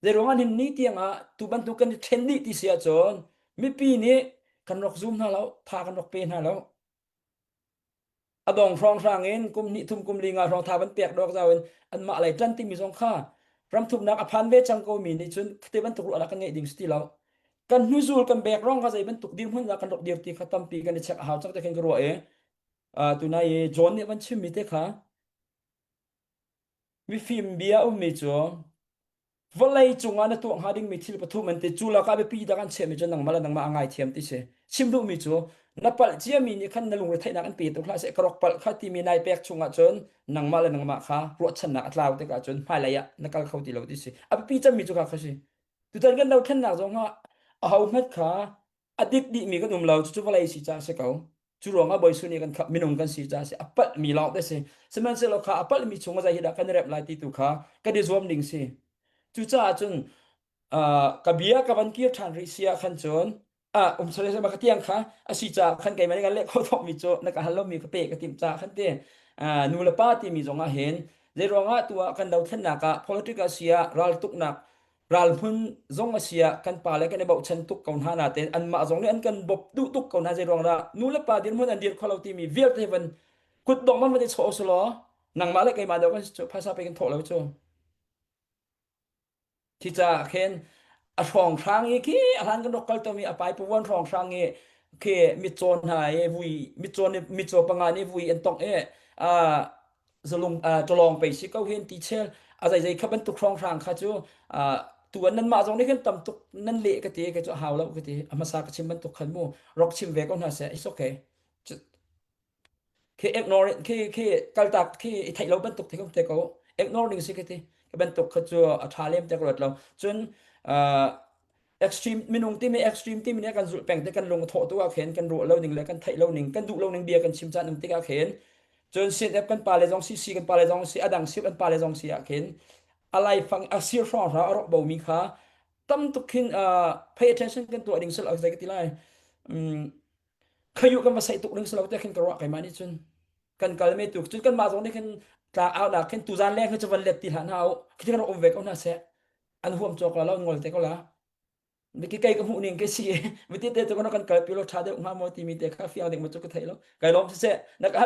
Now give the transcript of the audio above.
Zeiruangah nin ni tiangah tu bantuk kan i ṭhen dih ti si ahcun mipi nih kan rak zum hna lo, tha kan rak pe hna lo. A dong hrawnghrang in kum hnih thum kum li nga hrawng tha van pek dawk zau in anmah lei ṭan timi zong kha ramthuknak a phan ve cang komi nih cun khuate bantuk ruah ah kan ngeih ding si ti lo. Kan hnuzul kan bek rong kha zei bantuk dirhmun dah kan rak dir ti kha tampi kan i check a hau cang te khin ka ruah i uh, tunai i John nih van chimmi te kha Mifim bia a ummi cu vawlei cungah na tuah hnga dingmi thil pathum an ti. Cu lakah biapi dang an chehmi cu nangmah le nangmah aa ngaithiam ti si. Chim duhmi cu na palh ciami nih khan na lungre theihnak in pe tuk hlah seh. Ka rak palh kha timi nai pek chungah cun nangmah le nangmah kha ruahchannak a tlau tikah cun hmailei ah na kal kho ti lo ti si. A biapi cemmi cu kha kha si. Tutan kan dothlennak zong ah ahohmanh kha a dik dihmi kan um lo cucu vawlei si ca a si ko cu ruangah bawisu nih kan khap minung kan si ca a si a palh mi lawng te si sihmanhsehlaw kha a palhmi chungah zei dah kan rep lai ti tu kha kan i zuam ding si cucaah cun ka bia ka van kir ṭhan rih sia khan cun a um sale sema ka tiang kha asi ca khan keimah nih kan leh kho thok mi cu na ka hal lomi ka pe ka tim ca khan ti nu le pa timi zongah hin zei ruangah tu ah kan dothlennak ah political sia raltuknak ral hmun zong a si ah kan pa le kan i bochan tuk ko hna natein anmah zong nih an kan bawp duh tuk ko hna zei ruangah nu le pa dirhmun an dir kho lo timi vialte van kut dong man van i chawh u sulaw nangmah le keimah deuh kan phaisa pe kan thawh lo cu thi caah khin a hrawng hrang i khi a hlan kan rak kal tomi a pai puan hrawng hrang i khi mitcawn hna i vui mitcawn mitcaw panga nih vui an tongh i zalung tolong pe si ko hen ti chel a zai zai kha bantuk hrawnghrang kha cu tuan nan mah zong nih kan tam tuk nan le ka te ka chu hau lo ka te a masa ka chim bantuk khan mu rok chim ve ko hna se it's okay ke ignore ke ke kaltak ke i thai lo bantuk te kom te ko ignoring si ka ti bantuk kha chu a tha lem te ko lo cun extreme minung timi extreme timi nih kan zulh peng te kan lung a thawh tu ah khin kan ruah lo ning le kan theih lo ning kan duh lo ning bia kan chim chan um tik ah khin cun CNF kan pa le zong si si kan pa le zong si adang si kan pa le zong si ah khin a laifang a sir hrawng hra a rawk bo mi kha tam tuk khin pay attention kan tuah ding sal ak zai ka ti lai khayu kan va sai tuk ding salo te khin ka ruak kai ma ni cun kan kal me tuk cun kan ma zong nih khin tla au na khin tu zan leng khin chavan let ti hla na au khin kan rom ve ko na se al huam cawk la lo ngol te ko la mi ki kai ka hmuh ning ke si mi ti te tu kan kan kal pi lo tha deuh nga mo ti mi te kha fiang ding ma chu ka thei lo kai lom se se na ka hal